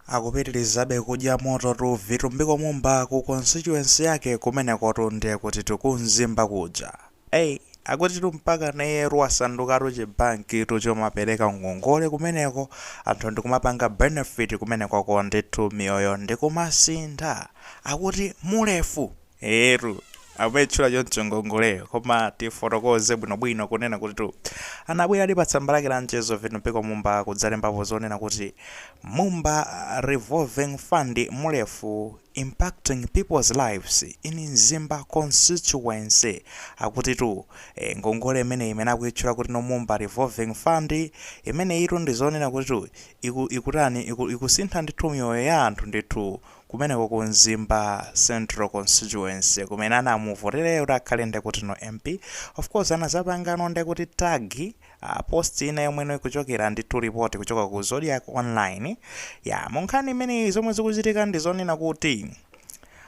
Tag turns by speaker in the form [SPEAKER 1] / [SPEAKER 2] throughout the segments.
[SPEAKER 1] Akupitilizabe kudya mototu Vitumbiko Mumba ku constituency yake kumenekotu ndiye kutitu ku Mzimba kuja iyayi akutitu mpaka nayeyetu wasandukatu chi bank tu chomapeleka ngongole kumeneko anthu ndikumapanga benefit kumenekoko ndithu miyoyo ndikumasintha akuti Mulefu! Eetu, akumaitchula choncho ngongoleyo, koma tifotokoze bwinobwino kunena kutitu anabweradi patsamba lake la mchezo Vitumbiko Mumba kudzalembapo zonena kuti Mumba Revolving Fund Mulefu impacting people's lives in Mzimba constituency. Akutitu eh, ngongole imeneyi imene akuitchula kuti no Mumba Revolving Fund imeneyitu ndi zonena kutitu iku, ikutani iku, ikusintha ndithu miyoyo ya anthu ndithu kumeneko ku Mzimba central constituency kumene anamuvotera iye kuti akhale ndekuti no MP of course anazapangano ndekuti tag uh, post ina yomwe no ikuchokera ndithu ku report kuchoka ku Zodiac online ya munkhani imeneyi zomwe zikuchitika ndi zonena kuti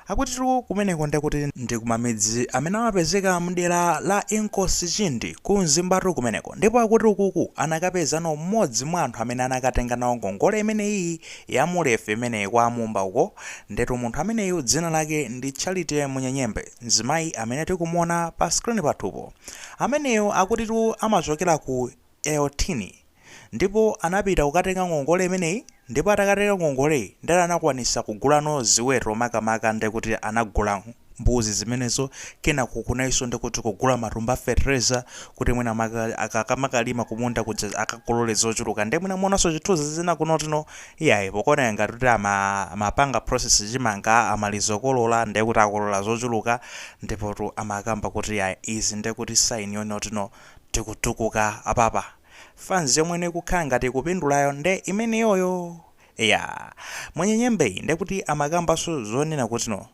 [SPEAKER 1] akutitu kumeneko ndekuti ndi kumamidzi amene amapezeka mdera la Inkosi Chindi ku Mzimbatu kumeneko ndipo akuti ukuku anakapezano mmodzi mwa anthu amene anakatenga nawo ngongole imene iyi ya Mulefu imeneyi kwa a Mumba uko, ndiyetu munthu ameneyu dzina lake ndi Charity Munyenyembe, mzimayi amene tikumuona pa screen pathupo. Ameneyu akutitu amachokera ku Euthini ndipo anapita kukatenga ngongole imeneyi ndipo atakatenga ngongoleyi ndiyeno anakwanisa kugulano ziweto makamaka ndekuti anagula mbuzi zimenezo kenako kunaliso ndi kuti kugula matumba a fetereza kuti mwina make akamakalima kumunda kuja akakolole zochuluka nde mwina muonaso zithunzi zina kunotino iyayi pakuoneka ngati kuti ama amapanga process chimanga amaliza kukolola nde kuti akolola zochuluka ndipotu amakamba kuti iyayi izi nde kuti sign yonotino tikutukuka apapa fanz yomweno ikukhala ngati ikupindulayo nde imeneyoyo ya a Munyenyembeyi nde kuti amakambaso zonena kutino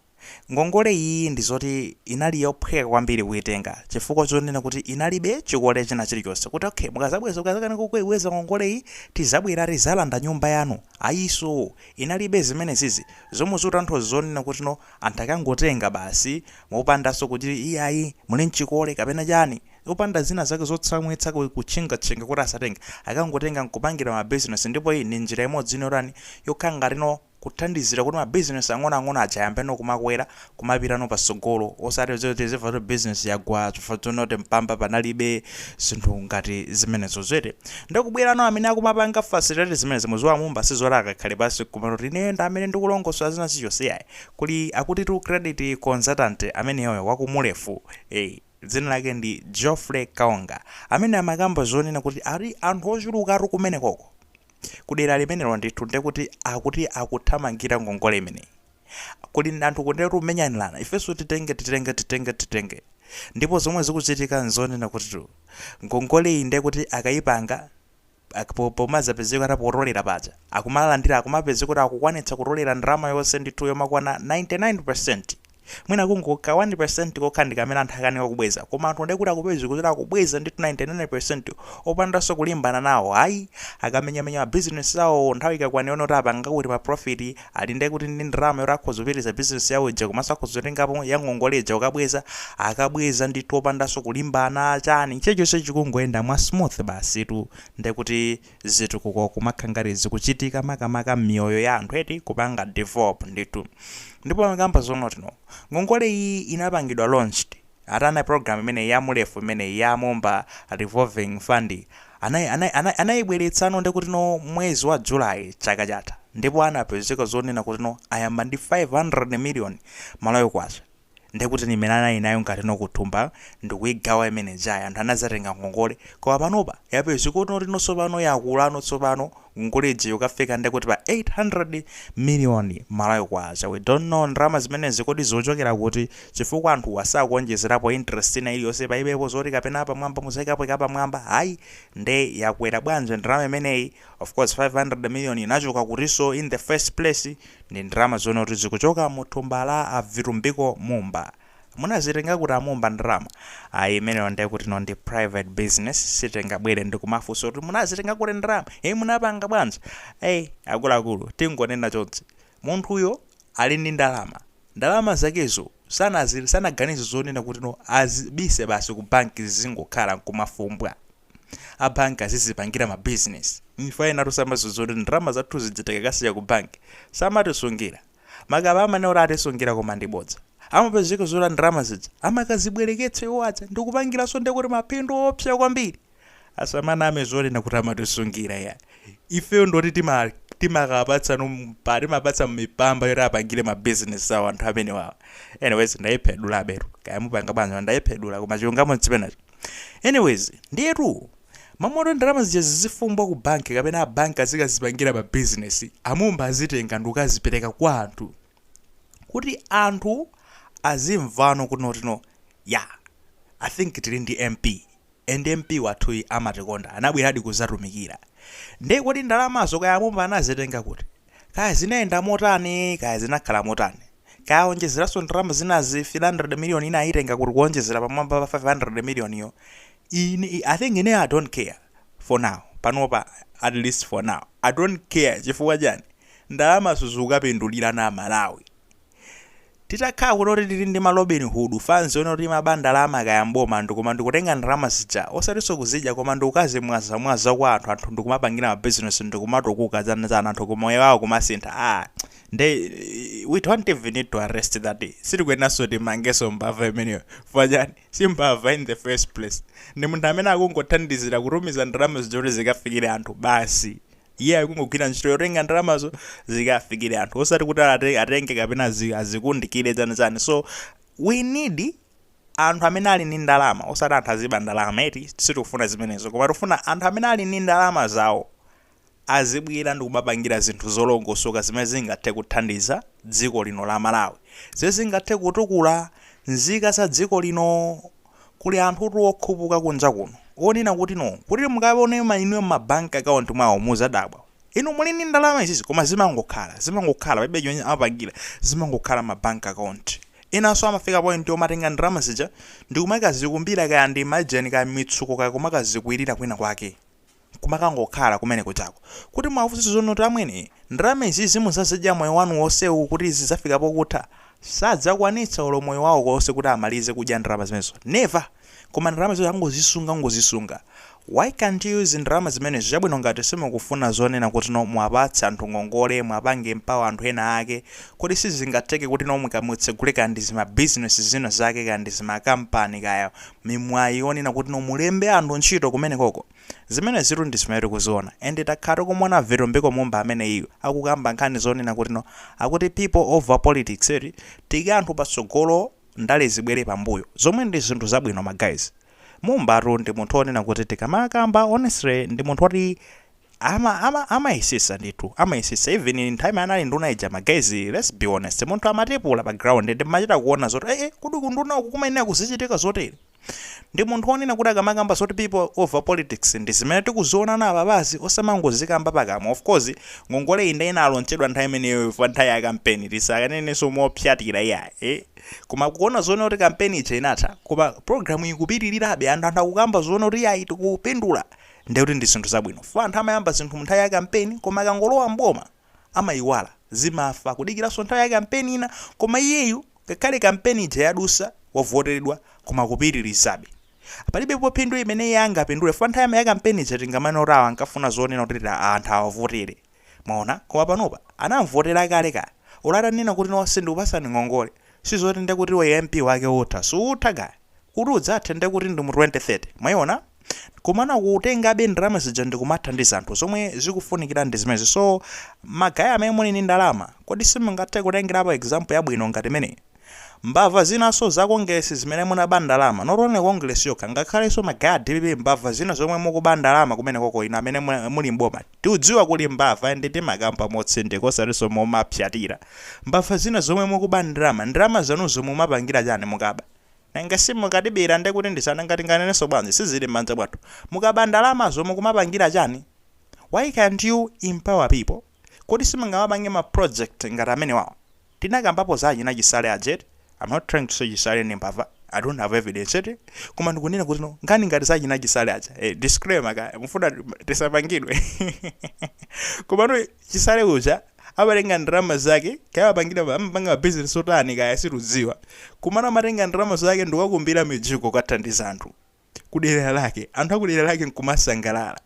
[SPEAKER 1] Ngongole iyi ndi zoti inali yophweka kwambiri kuitenga chifukwa chonena kuti inalibe chikole china chilichonse kuti okay mukazabweza ukazakanika kuibweza ngongoleyi tizabwera tizalanda nyumba yanu ayiso inalibe zimenezizi zomwe zikutanthauza zonena kuti no anthu akangotenga basi mopandaso kuti iyayi muli nchikole kapena chani opanda zina zake zotsamwitsa kutchingatchinga kuti asatenge akangotenga nkupangira ma business ndipo iyi ndi njira imodzi yotani yokhala ngati no kuthandizira kuti ma business ang'onoang'ono aja ayambeno kumakwera, kumapitano patsogolo, osati zoti tizimva zoti business yagwa chifukwa choti no mpamba panalibe zinthu ngati zimenezozo eti. Nde kubwerano amene akumapanga facilitate zimenezi mudziwa Mumba sizoti akakhala pansi nkumati kuti ineyo ndi amene ndikulongosola zina zichonse iyayi, kuli akutitu credit consultant ameneyoyo wa ku Mulefu eh dzina lake ndi Geoffrey Kaonga amene amakamba zonena kuti ali anthu ochulukatu kumenekoko. kudera limenelo ndithu ndekuti akuti akuthamangira ngongole imeneyi kuli anthu kundetu kumenyanirana ifenso titenge titenge titenge titenge ndipo zomwe zikuchitika nzonena kutitu ngongole iyi ndekuti akayipanga ak- po- pomazapezeka atapotolera paja akumalandira akumapezeka kuti akukwanitsa kutolera ndalama yonse ndithu yomakwana 99 Mwina kungo ka 1% kokha ndikamene anthu akanika kubweza koma anthu ndekuti akupezeka kuti akubweza ndithu 99% opandanso kulimbana nawo ayi akamenyamenya ma business awo nthawi ikakwana yona kuti apanga kuti ma profit alipo ndekuti ndi ndalama yoti akhoza kupitiliza business yawo ija komanso akhoza kutengapo ya ngongole ija kukabweza akabweza ndithu opandanso kulimbana chani chilichonse chikungoyenda mwa smooth basitu ndekuti zitukuko kumakhala ngati zikuchitika makamaka mmiyoyo ya anthu eti kupanga develop ndithu ndipo amakamba zonotino ngongole iyi inapangidwa launched atana program imeneyi ya mulefu imeneyi ya mumba revolving fund anai anai anai anaibweretsano ndekutino mwezi wa july chaka chatha ndipo anapezeka zonena kutino ayamba ndi 500 million malawi kwacha Ndiye kuti ndi imene anali nayo ngati no kuthumba ndikuigawa imene ijayi anthu anazatenga ngongole koma panopa yapezeka kuti noti no tsopano yakula no tsopano ngongole ija yokafika ndiye kuti pa 800 million Malawi kwacha. We don't know ndalama zimenezi kodi zikuchokera kuti chifukwa anthuwa sakuonjezerapo interest ina iliyonse paibepo zoti kapena apamwamba mudzaikapo kapamwamba ayi nde yakwera bwanji ndalama imeneyi of course 500 million inachoka kutiso in the first place? Ndi ndalama zonakuti zikuchoka mu thumba la a Vitumbiko Mumba. Munazitenga kuti a Mumba ndalama? Ayi imeneyo ndiye kuti ino ndi private business sitingabwere ndi kumafunsa kuti munazitenga kuti ndalama? Hey munapanga bwanji? Hey akuluakulu tingonena chonchi. Munthuyo ali ndi ndalama. Ndalama zakezo sanazi sanaganize zonena kuti no azibise basi ku banki zizingokhala nkumafumbwa. a bank azizipangira ma business mwina enatu simumadziwa kuti ndalama zathu zija tikakasiya ku bank samatisungira maka amanena kuti atisungira koma ndi bodza amapezeka zoti ndalama zija amakazibwereketsa iwo aja ndikupangiranso ndekuti mapindu oopsa kwambiri asamaname zonena kuti amatisungira ya ifeyo ndoti timakapatsa mipa timapatsa mipamba yoti apangire ma business awo anthu amenewawa anyways ndaiphedula aberu kaya mupanga bwanji ndaiphedula koma chilungamo nchimenecho Anyways, ndiyetu mmalo moti ndalama zija zizifumbwa ku banki kapena a banki azikazipangira pa business, a Mumba azitenga ndikukazipereka kwa anthu kuti anthu azimvano kunotino ya I think tili ndi MP and MP wathuyi amatikonda anabweradi kuzatumikira. Nde kodi ndalamazo kaya a Mumba anazitenga kuti? Kaya zinayenda motani, kaya zinakhala motani. Kaya awonjezeranso ndalama zinazi, 300 million ina ayitenga kuti kuwonjezera pamwamba pa 500 million yo. I think I don't care. For now. Panopa, at least for now. I don't care. Chifukwa chani? Ndalamazo zikukapindulirana a Malawi. Titakhala kunoti tili ndi ma Robin Hood fans onoti amaba ndalama kaya mboma ndi koma ndikutenga ndalama zija osatinso kuzidya koma ndikukazi mwaza mwaza kwa anthu anthu ndikumapangira ma business ndikumatukuka dzana dzana anthu ku moyo wawo kumasintha ah nde we don't even need to arrest that sitikuyenanso timangenso mbava imeneyo chifukwa chani si mbava in the first place ndi munthu amene akungothandizira kutumiza ndalama zija kuti zikafikire anthu basi Iye akungogwira ntchito yotenga ndalamazo zikafikire anthu osati kuti atenge kapena azikundikire chani chani so we need anthu amene ali ndi ndalama osati anthu aziba ndalama eti sitikufuna zimenezo koma tikufuna anthu amene ali ndi ndalama zawo azibwera ndikumapangira zinthu zolongosoka zimene zingathe kuthandiza dziko lino la malawi zimene zingathe kutukula nzika za dziko lino Kuli anthutu okhupuka kunja kuno onena kuti no kuti mukaone ma inuyo mma bank account mwawo muzadabwa. Inu, muli ndi ndalama izizi koma zimangokhala, zimangokhala palibe chimene amapangila zimangokhala mma bank account. Enanso amafika point yomatenga ndalama zija ndikumakazikumbira kaya ndi maenje kaya mitsuko kaya kumakazikwirira kwina kwake. nkumakangokhala kumene kujako kuti muwafunse zonoti amwene ndalama izizi muzazidya moyo wanu wonsewu kuti zizafika pokutha? sadzakwanitsa olo moyo wawo wonse kuti amalize kudya ndalama zimenezo never koma ndalama zimenezo angozisunga kungozisunga why can't you use ndalama zimenezo chabwino ngati simukufuna zonena kuti no muwapatse anthu ngongole muwapange empower anthu ena ake kodi sizingatheke kuti no mukatsegule kaya ndizima business zina zake kaya ndizima company kaya mimwayi yonena kuti no mulembe anthu ntchito kumenekoko. Zimenezitu ndi zimene tikuziona. And takhala tikumuona Vitumbiko Mumba ameneyu akukamba nkhani zonena kuti no akuti people over politics eti. Tiyike anthu patsogolo ndale zibwere pambuyo. Zomwe ndi zinthu zabwino ma guys. Mumbatu ndi munthu onena kuti tikamakamba honestly ndi munthu oti Ama ama amayesesa ndithu amayesesa even nthawi imene anali nduna ija ma guys let's be honest munthu amatipula pa ground nde mmachita kuona zoti eh eh kodi kunduna uku kumayenera kuzichitika zotere ndi munthu wonena kuti akamakamba zoti people over politics ndi zimene tikuziona apapazi osamangozikamba pakamwa of course ngongoleyi nde inalonjezedwa nthawi imeneyo pa nthawi ya kampeni tisakanenso mopsatira iya eh koma kuona zonena kuti kampeni ija inatha koma program ikupitirirabe anthu anthu akukamba zonena kuti ayi tikupindula ndiye kuti ndi zinthu zabwino chifukwa anthu amayamba zinthu mu nthawi ya kampeni koma akangolowa m'boma amayiwala, zimafa, kudikiranso nthawi ya kampeni ina koma iyeyu ngakhale kampeni ija yadusa wavoteredwa koma akupitirizabe. Palibepo phindu limene iye angapindule chifukwa nthawi ya kampeni ija tikanamanena kuti awa ankafuna zonena kuti anthu awavotere. Mwaona? Koma panopa, anamvotera kale ka. Olo atanena kuti no sindikupasani ngongole, sizoti nde kuti iwe MP wake utha. Suutha ka. Kuti udzathe nde kuti ndi mu 2030. Mwaiona? Komano akutengabe ndalama zija ndikumathandiza anthu. Zomwe zikufunikira ndi zimenezi. So, ma guys amene muli ndi ndalama, kodi simungathe kutengerapo example yabwino ngati imeneyi? Mbava zinanso za Kongeresi zimene munaba ndalama, not only Kongeresi yokha, ngakhalenso ma guys a DPP mbava zina zomwe mukuba ndalama kumenekoko inu amene muli m'boma tiudziwa kuli mbava and timakamba motsindika osatinso momapsyatira. Mbava zina zomwe mukuba ndalama, ndalama zanuzo mumapangira chani mukaba? Nanga simukutibera nde kuti ndi za nanga tinganenenso bwanji sizili m'manja mwathu. Mukaba ndalamazo mukumapangira chani? Why can't you empower people? Kodi simungamapange ma project ngati amenewawo? Tinakambapo za achina Chisale aja eti? Am not trying to say Chisale ndi mbava, I don't have evidence eti? Koma ndikunena kuti no, nkhani ngati za achina Chisale aja, eh, disclaimer kaya, mukufuna tisapangidwe? Komano Chisale uja amatenga ndalama zake, kaya amapangidwa, amapanga ma business otani kaya situdziwa, komano amatenga ndalama zake nkukakumbira mijigo kukathandiza anthu. kudera lake, anthu akudera lake nkumasangalala.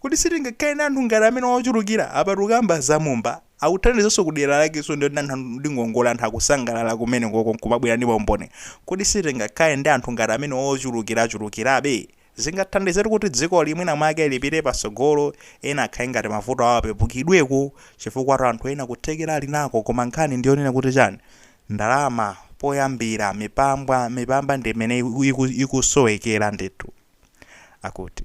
[SPEAKER 1] Kodi sitingakhale ndi anthu ngati amenewa ochuluka? Apa tikukamba za Mumba akuthandizanso kudera lakenso ndi anthu ndi ngongole anthu akusangalala kumene koko nkumabwera ndi maumboni. Kodi sitingakhale ndi anthu ngati amenewa ochulukirachulukirabe? zingathandizetu kuti dzikoli mwina mwake lipite patsogolo ena akhale ngati mavuto awo apepukidweko chifukwatu anthu ena kuthekera ali nako koma nkhani ndiyonena kuti chani ndalama poyambira mipambwa mipamba ndi imene ikusowekera ndithu akuti.